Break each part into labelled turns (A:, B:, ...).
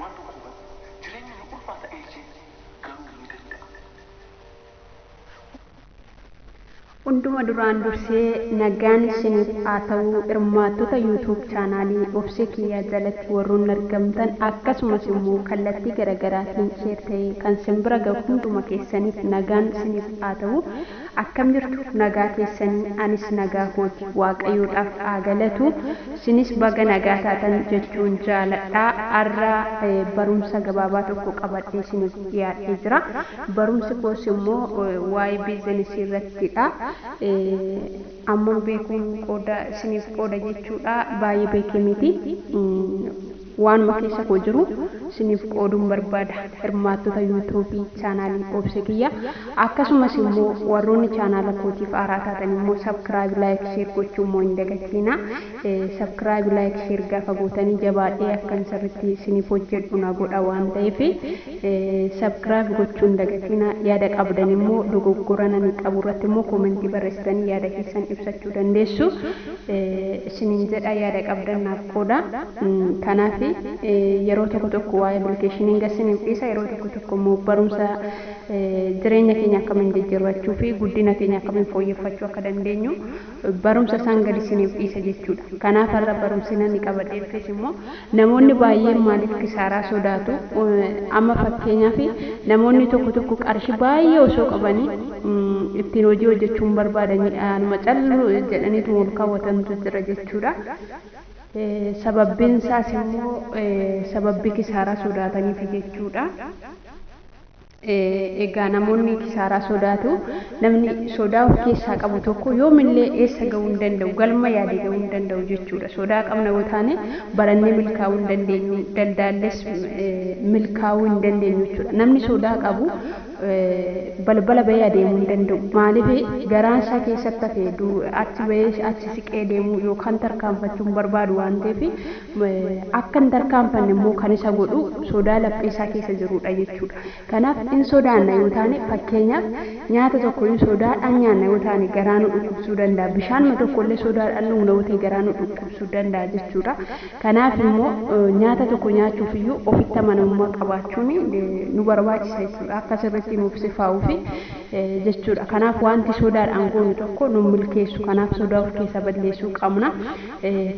A: Waan tokko hubadhu. Jireenyi ni ulfaata eeyyee garuu ni danda'ama. Hunduma duraan dursee nagaan isiniif haa ta'u hirmaattota YouTube chaanaalii Obsee Kiyyaa jalatti warroonni argamtan akkasumas immoo kallattii garagaraatiin share ta'ee kan sin bira gahu hunduma keessaniif nagaan isiniif haa ta'u Akkam jirtu nagaa keessanii anis nagaa kooti waaqayyoodhaaf haa galatu sinis baga nagaa taatan jechuun jaaladha arra barumsa gabaabaa tokko qabadhee isiniif dhiyaadhee jira barumsi koos immoo waa'ee biizinesii irrattidha amman beekuun qooda isiniif qooda jechuudha baay'ee beekee miti Waanuma keessa koo jiru siniif qooduun barbaada. Hirmaattota YouTube chaanaalii Obse kiyya akkasumas immoo warroonni chaanaala kootiif haaraa taatan immoo subcribe like share gochuu immoo hin dagatiina. Subcribe like share gaafa gootanii jabaadhee akkan sirritti siniif hojjedhu na godha waan ta'eef subcribe gochuu hin dagatiina. Yaada qabdan immoo dogoggora nani qabu irratti immoo comment barreessitanii yaada keessan ibsachuu dandeessu. isiniin jedha yaada qabdan naaf qooda kanaafi yeroo tokko tokko waa'ee application ga isiniif dhiisa yeroo tokko tokko immoo barumsa jireenya keenya akkamiin jijjirrachuu fi guddina keenya akkamiin fooyyeffachuu akka dandeenyu barumsa isaan gadi isiniif dhiisa jechuudha kanaaf har'a barumsi namni qabadhee dhufes immoo Namoonni baay'een maaliif kisaaraa sodaatu? Amma fakkeenyaaf namoonni tokko tokko qarshii baay'ee osoo qabanii ittiin hojii hojjechuu hin barbaadan anuma callu jedhaniituma ol kaawwatantu jira jechuudha. Sababbiin isaas immoo sababbii kisaaraa sodaataniifi jechuudha. Egaa namoonni kisaaraa sodaatu. Namni sodaa of keessaa qabu tokko yoomillee eessa ga'uu hin danda'u, galma yaade ga'uu hin danda'u jechuudha. Sodaa qabna yoo taane barannee milkaa'uu hin dandeenyu, daldaalles milkaa'uu hin dandeenyu jechuudha. Namni sodaa qabu balbala ba'ee adeemuu hin danda'u. Maaliif garaan isaa keessatti hafe achi ba'ee achi siqee deemuu yookaan tarkaanfachuu hin barbaadu waan ta'eef akka hin tarkaanfanne immoo kan isa godhu sodaa laphee isaa keessa jiruu dha jechuu dha. Kanaaf in sodaanna yoo taane fakkeenyaaf nyaata tokko in sodaadhaan nyaanna yoo taane garaa nu dhukkubsuu danda'a. Bishaanuma tokko illee sodaadhaan dhugna yoo ta'e garaa nu dhukkubsuu danda'a jechuu dha. Kanaaf immoo nyaata tokko nyaachuuf iyyuu ofitti amanamummaa qabaachuun nu barbaachisa jechuu dha. Akka sirriitti nuuf sifaa'uuf jechuu dha. Kanaaf wanti sodaadhaan goonu tokko nu hin milkeessu. Kanaaf sodaa of keessaa balleessuu qabna.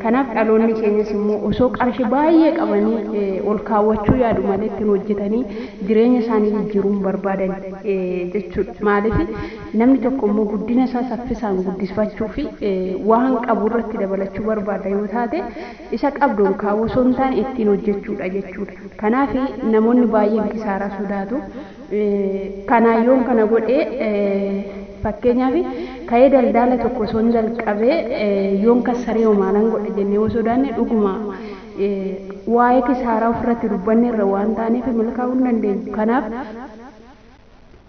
A: Kanaaf dhaloonni keenyas immoo osoo qarshii baay'ee qabanii ol kaawwachuu yaadu malee ittiin hojjetanii jireenya isaanii jijjiiruu hin barbaadan jechuudha. Maaliif namni tokko immoo guddina isaa saffisaan guddisfachuu fi waan qabu irratti dabalachuu barbaada yoo taate isa qabdu ol kaawwuu osoo hin taane ittiin hojjechuudha jechuudha. Kanaaf namoonni baay'een kisaaraa sodaatu. Kanaa yoon kana godhe fakkeenyaaf ka'ee daldaala tokko osoon jalqabee yoon kassarehoo maalan godha jennee yoo sodaanne dhuguma waa'ee kisaaraa ofirratti dubbanneerra waan taaneef milkaa'uu hin dandeenyu. Kanaaf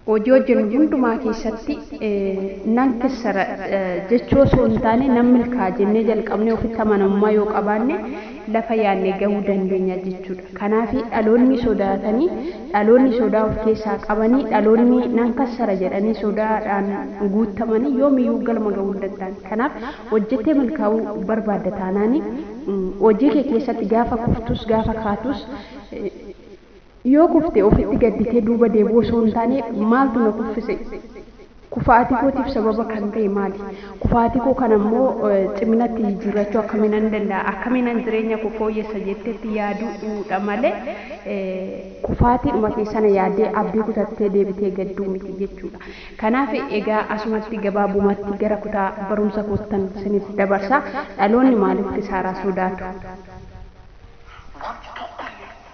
A: hojii hojjennu hundumaa keessatti nan kissara jechuu osoo hin taane nan milkaa'a jennee jalqabnee ofitti amanamummaa yoo qabaanne lafa yaadne gahuu dandeenya jechuudha. Kanaafi dhaloonni sodaatani dhaloonni sodaa of keessaa qabani dhaloonni nan kassara jedhanii sodaadhaan guuttamani yoomiyyuu galma ga'uu hin danda'an. Kanaaf hojjettee milkaa'uu barbaadda taanaani hojii kee keessatti gaafa kuftus gaafa kaatus yoo kufte ofitti gadditee duuba deebi'uu osoo hin taane maaltu na kuffise? Kufaatii kootiif sababa kan ta'e maali? Kufaatii koo kana immoo ciminatti jijjiirrachuu akkamiinan danda'a? Akkamiinan jireenya koo fooyyessa jetteetti yaaduudha malee kufaatiidhuma kee sana yaaddee abdii kutattee deebitee gadduu miti jechuudha. Kanaaf egaa asumatti gabaabumatti gara kutaa barumsa koottan siniif dabarsa. Dhaloonni maaliif kisaaraa sodaatu? Wanti tokkollee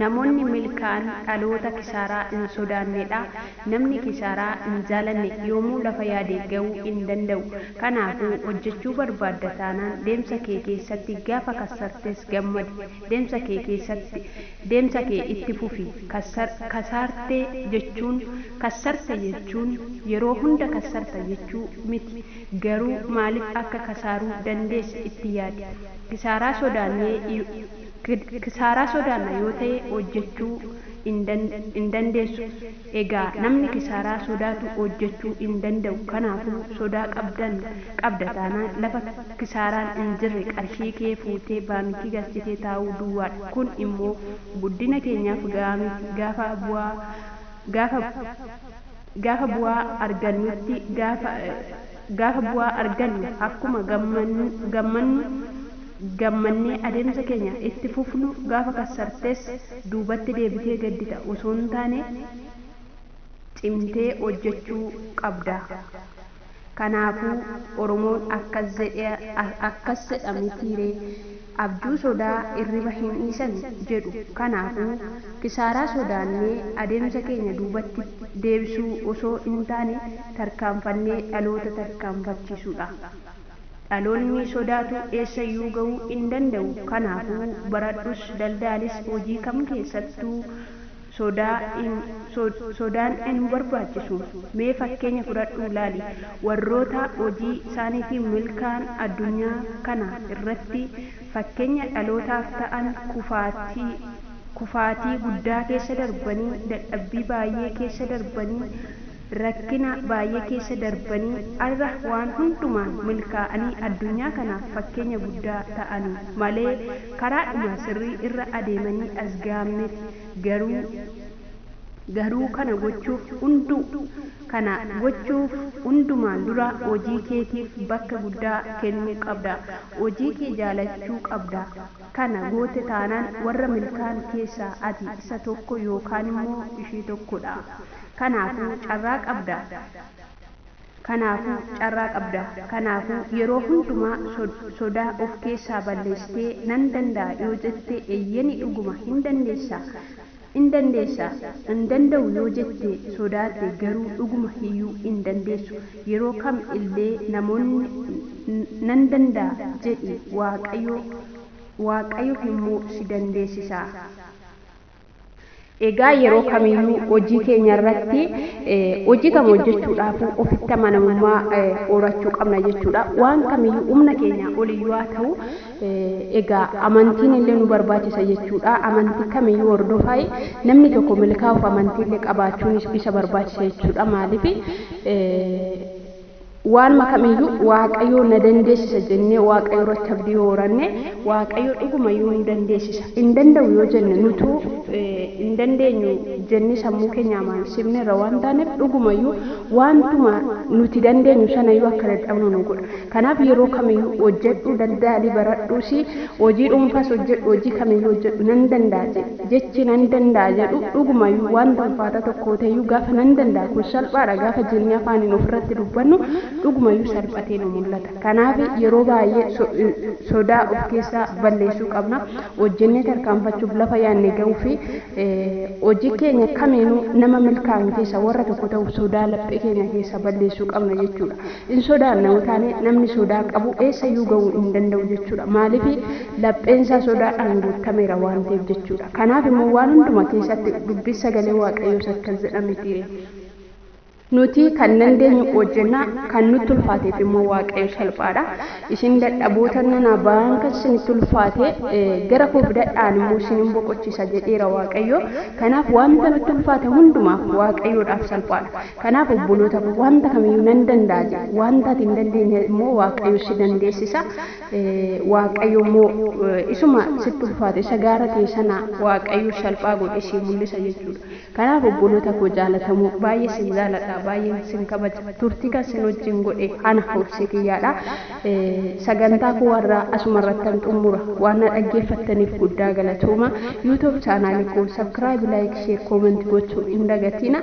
A: Namoonni milkaa'an dhaloota kisaaraa hin sodaanne dha. Namni kisaaraa hin jaalanne yoomuu lafa yaade ga'uu hin danda'u. Kanaafuu, hojjechuu barbaadda taanaan deemsa kee keessatti gaafa kassartes gammadi. Deemsa kee keessatti deemsa kee itti fufi. Kassar, kasaarte jechuun, kassarte jechuun yeroo hunda kassarta jechuu miti. Garuu maaliif akka kasaaruu dandeesse itti yaadi. Kisaaraa sodaannee. Kisaaraa sodaanna yoo ta'e hojjechuu hin dandeessu. Egaa namni kisaaraa sodaatu hojjechuu hin danda'u. Kanaafuu sodaa qabdan qabda taanaan lafa kisaaraan hin jirre qarshii kee fuutee baankii galchitee taa'uu duwwaadha. Kun immoo guddina keenyaaf ga'aa miti. Gaafa bu'aa gaafa. Gaafa bu'aa argannutti gaafa gaafa bu'aa argannu akkuma gammannu gammannee adeemsa keenya itti fufnu gaafa kassartes duubatti deebitee gaddita osoo hin taane cimtee hojjechuu qabda. Kanaafuu oromoon akkas zedhe akkas zedha mitii ree abjuu sodaa irriba hin dhiisani jedhu kanaafuu kisaaraa sodaannee adeemsa keenya duubatti deebsuu osoo hin taane tarkaanfannee dhaloota tarkaanfachiisuudha dhaloonni sodaatu eessayyuu gahuu hin danda'u kanaafuu baradhus daldaalis hojii kam keessattuu sodaa in sodaan in barbaachisu. Mee fakkeenya fudhadhuu ilaali. Warroota hojii isaaniitiin milkaa'an addunyaa kana irratti fakkeenya dhalootaaf ta'an kufaatii kufaatii guddaa keessa darbanii, dadhabbii baay'ee keessa darbanii, rakkina baay'ee keessa darbanii arra waan hundumaan milkaa'anii addunyaa kanaaf fakkeenya guddaa ta'aniif malee karaadhuma sirrii irra adeemanii as ga'an miti. Garuu Garuu kana gochuuf hunduu kana gochuuf hundumaan dura hojii keetiif bakka guddaa kennuu qabda. Hojii kee jaalachuu qabda. Kana goote taanaan warra milkaa'an keessaa ati isa tokko yookaan immoo ishee tokko dha. Kanaafuu carraa qabda. Kanaafuu carraa qabda. Kanaafuu yeroo hundumaa sodaa of keessaa balleessitee nan danda'a yoo jette eyyeni dhuguma hin dandeessa. In dandeessa, Hin danda'u yoo jette, sodaatte, garuu dhuguma iyyuu hin dandeessu. Yeroo kam illee namoonni Nan danda'a jedhi, Waaqayyo, Waaqayyo immoo si dandeessisa. Egaa yeroo kam iyyuu hojii keenya irratti hojii kam hojjechuudhaafuu ofitti amanamummaa horachuu qabna jechuudha. Waan kam iyyuu humna keenyaa ol iyyuu haa ta'u, Egaa amantiin illee nu barbaachisa jechuudha. Amantii kamiyyuu hordofaayi namni tokko milkaa'uuf amantii illee qabaachuun isa barbaachisa jechuudha. Maaliif waanuma kamiyyuu waaqayyoo na dandeessisa jennee waaqayyo irratti abdii yoo horanne waaqayyo dhugumayyuu nu dandeessisa. Hin danda'u yoo jenne nutuu hin dandeenyu jennee sammuu keenya amaansifne irra waan taaneef dhugumayyuu waantuma nuti dandeenyu sanayyuu akka dadhabnu nu godha. Kanaaf yeroo kamiyyuu hojjedhu, daldali, baradhuus, hojii dhuunfaas hojjedhu, hojii kamiyyuu hojjedhu nan danda'a jedhi. Jechi nan danda'a jedhu dhugumayyuu wanta ulfaataa tokkoo ta'eyyuu gaafa nan danda'a kun salphaadha gaafa jennee afaaniin ofirratti dubbannu dhugumayyuu salphatee nu mul'ata. Kanaaf yeroo baay'ee sodaa of keessaa balleessuu qabna. Hojjennee tarkaanfachuuf, lafa yaadne ga'uuf, hojii keenya kamiinuu nama milkaa'an keessaa warra tokko ta'uuf sodaa laphee keenya keessaa balleessuu qabna jechuudha. Hin sodaanna utaanee namni sodaa qabu eessayyuu ga'uu hin danda'u jechuudha. Maaliif lapheensaa sodaadhaan guuttameera waan ta'eef jechuudha. Kanaaf immoo waan hunduma keessatti dubbii sagalee waaqayyoos akkas jedha mitiire. Nuti kan dandeenyu hojjenna, kan nutti ulfaateef immoo waaqayyo salphaadha. Isin dadhaboota nana ba'aan kan isinitti ulfaate gara koo fidadhaan immoo isinin boqochiisa jedheera waaqayyo. Kanaaf wanta nutti ulfaate hundumaaf waaqayyoodhaaf salphaadha. Kanaaf obboloota koo wanta kamiyyuu nan danda'a jedhi. Wanta ati hin dandeenye immoo Waaqayyo si dandeessisa. Waaqayyo immoo isuma sitti ulfaate isa gaara ta'e sana Waaqayyo salphaa godhee sii mul'isa jechuudha. Kanaaf obboloota koo jaalatamoo baay'ee sin jaaladha baay'een sin kabaja turtii kan sin wajjin godhe ana obsee kiyyaadha. Sagantaa koo warra asuma irrattan xumura waan na dhaggeeffattaniif guddaa galatooma. YouTube chaanaalii koo subscribe like share comment gochuu hin dagatina.